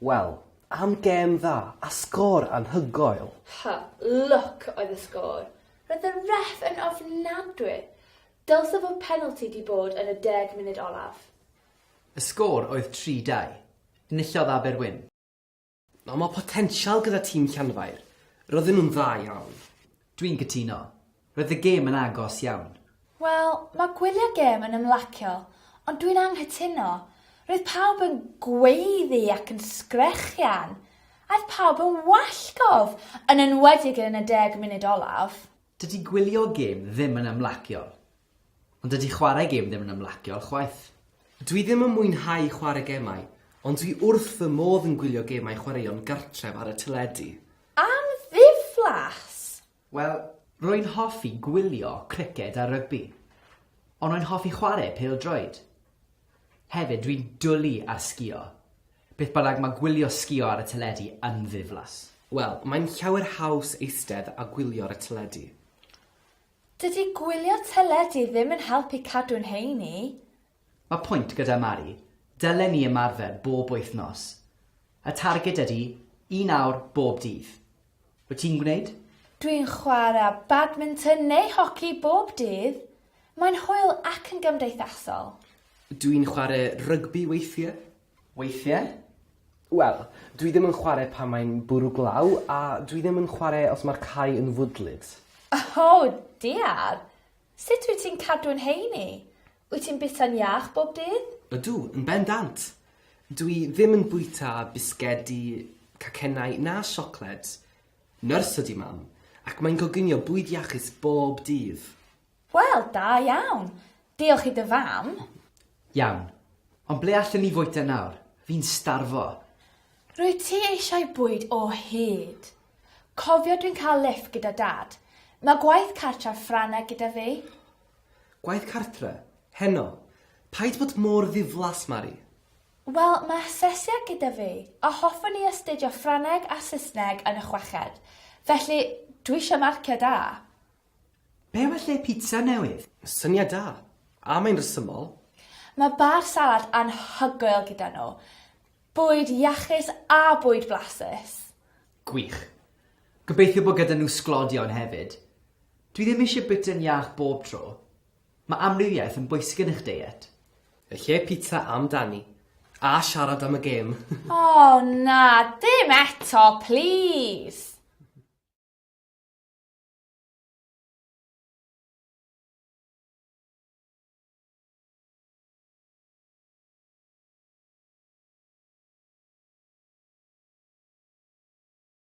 Wel, am gêm dda a sgôr anhygoel! Ha, lwc oedd y sgôr. Roedd y ref yn ofnadwy. Dylse fod penalty 'di bod yn y deg munud olaf. Y sgôr oedd 3-2. Enillodd Aberwyn. Mae mor potensial gyda tîm Llanfair, roedden nhw'n dda iawn. Dwi'n cytuno. Roedd y gêm yn agos iawn. Wel, mae gwylio gêm yn ymlacio, ond dwi'n anghytuno. Roedd pawb yn gweiddi ac yn sgrechian. Aeth pawb yn wallgof, yn enwedig yn y deg munud olaf. Dydy gwylio gêm ddim yn ymlaciol. Ond dydy chwarae gêm ddim yn ymlaciol chwaith. Dwi ddim yn mwynhau chwarae gemau, ond dwi wrth fy modd yn gwylio gemau chwaraeon gartref ar y teledu. Am ddiflas! Wel, rwy'n hoffi gwylio criced a rygbi. Ond rwy'n hoffi chwarae pêl-droed. Hefyd, dwi'n dwli ar sgïo. Beth bynnag, mae gwylio sgïo ar y teledu yn ddiflas. Wel, mae'n llawer haws eistedd a gwylio ar y teledu. Dydy gwylio teledu ddim yn helpu cadw'n heini. Mae pwynt gyda Mari, dylen ni ymarfer bob wythnos. Y targed ydy un awr bob dydd. Wyt ti'n gwneud? Dwi'n chwarae badminton neu hoci bob dydd. Mae'n hwyl ac yn gymdeithasol. Dwi'n chwarae rygbi weithiau. Weithiau? Wel, dwi ddim yn chwarae pan mae'n bwrw glaw a dwi ddim yn chwarae os mae'r cae yn fwdlyd. O, diar! Sut wyt ti'n cadw'n heini? Wyt ti'n bwyta'n iach bob dydd? Ydw, yn bendant! Dw i ddim yn bwyta bisgedi, cacennau na siocled. Nyrs ydi Mam, ac mae'n coginio bwyd iachus bob dydd. Wel, da iawn! Diolch i dy fam. Iawn. Ond ble allen ni fwyta nawr? Fi'n starfo! Rwyt ti eisiau bwyd o hyd? Cofio dwi'n cael liff gyda Dad. Mae gwaith cartref Ffrangeg gyda fi. Gwaith cartre? Heno? Paid bod mor ddiflas, Mari. Wel, mae asesiad gyda fi, a hoffwn i astudio Ffrangeg a Saesneg yn y chweched, felly dwi eisiau marciau da. Be well lle pizza newydd? Syniad da. A mae'n rhesymol. Mae bar salad anhygoel gyda nhw. Bwyd iachus a bwyd blasus. Gwych. Gobeithio bod gyda nhw sglodion hefyd. Dwi ddim eisiau bwyta'n iach bob tro. Mae amrywiaeth yn bwysig yn eich deiet. Yn lle pizza am Dani. A siarad am y gêm. O na, dim eto, plis!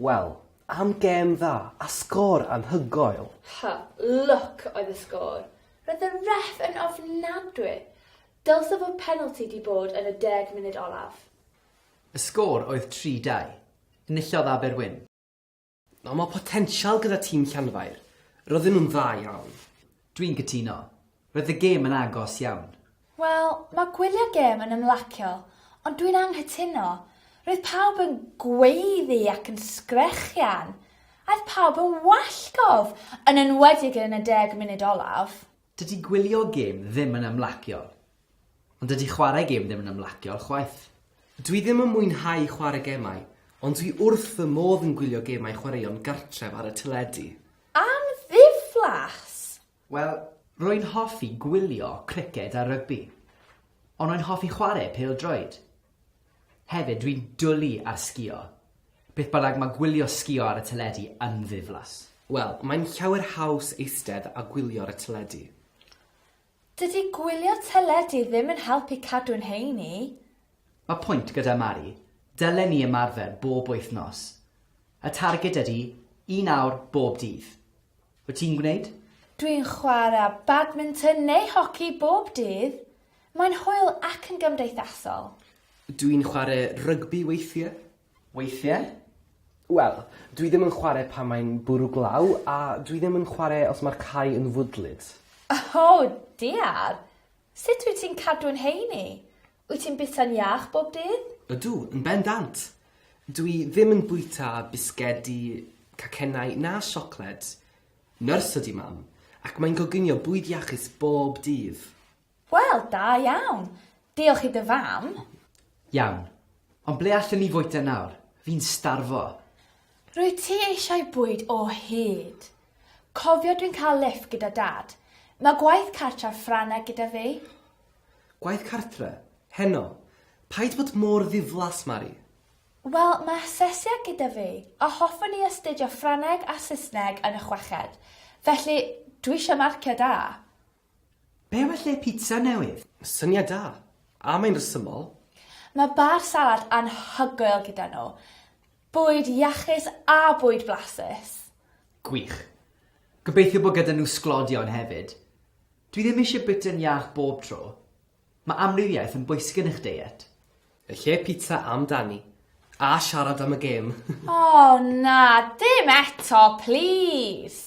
Wel, am gêm dda a sgôr anhygoel! Ha, lwc oedd y sgôr. Roedd y ref yn ofnadwy. Dylse fod penalty 'di bod yn y deg munud olaf. Y sgôr oedd tri dau. Enillodd Aber Wyn. Nawr mae potensial gyda tîm Llanfair, roedden nhw'n dda iawn. Dwi'n cytuno. Roedd y gêm yn agos iawn. Wel, mae gwylio'r gêm yn ymlacio, ond dwi'n anghytuno. Roedd pawb yn gweiddi ac yn sgrechian. Aeth pawb yn wallgof, yn enwedig yn y deg munud olaf. Dydy gwylio gêm ddim yn ymlaciol. Ond dydy chwarae gêm ddim yn ymlaciol chwaith. Dwi ddim yn mwynhau chwarae gemau, ond dwi wrth fy modd yn gwylio gemau chwaraeon gartref ar y teledu. Am ddiflas! Wel, rwy'n hoffi gwylio criced a rygbi. Ond rwy'n hoffi chwarae pêl-droed. Hefyd, dwi'n dwli ar sgïo. Beth bynnag, mae gwylio sgïo ar y teledu yn ddiflas. Wel, mae'n llawer haws eistedd a gwylio ar y teledu. Dydy gwylio teledu ddim yn helpu cadw'n heini. Mae pwynt gyda Mari, dylen ni ymarfer bob wythnos. Y targed ydy un awr bob dydd. Wyt ti'n gwneud? Dwi'n chwarae badminton neu hoci bob dydd. Mae'n hwyl ac yn gymdeithasol. Dwi'n chwarae rygbi weithiau. Weithiau? Wel, dwi ddim yn chwarae pan mae'n bwrw glaw a dwi ddim yn chwarae os mae'r cae yn fwdlyd. O, diar! Sut wyt ti'n cadw'n heini? Wyt ti'n bita'n iach bob dydd? Ydw, yn bendant! Dw i ddim yn bwyta bisgedi, cacennau na siocled. Nyrs ydi Mam, ac mae'n coginio bwyd iachus bob dydd. Wel, da iawn! Diolch i dy fam. Iawn. Ond ble allen ni fwyta nawr? Fi'n starfo! Rwyt ti eisiau bwyd o hyd? Cofio dwi'n cael liff gyda Dad. Mae gwaith cartref Ffrangeg gyda fi. Gwaith cartre? Heno? Paid bod mor ddiflas, Mari. Wel, mae asesiad gyda fi, a hoffwn i astudio Ffrangeg a Saesneg yn y chweched, felly dwi eisiau marciau da. Be well lle pizza newydd? Syniad da. A mae'n rhesymol. Mae bar salad anhygoel gyda nhw. Bwyd iachus a bwyd blasus. Gwych. Gobeithio bod gyda nhw sglodion hefyd. Dwi ddim eisiau bwyta'n iach bob tro. Mae amrywiaeth yn bwysig yn eich deiet. Yn lle pizza am dani. A siarad am y gêm. O na, dim eto, plis!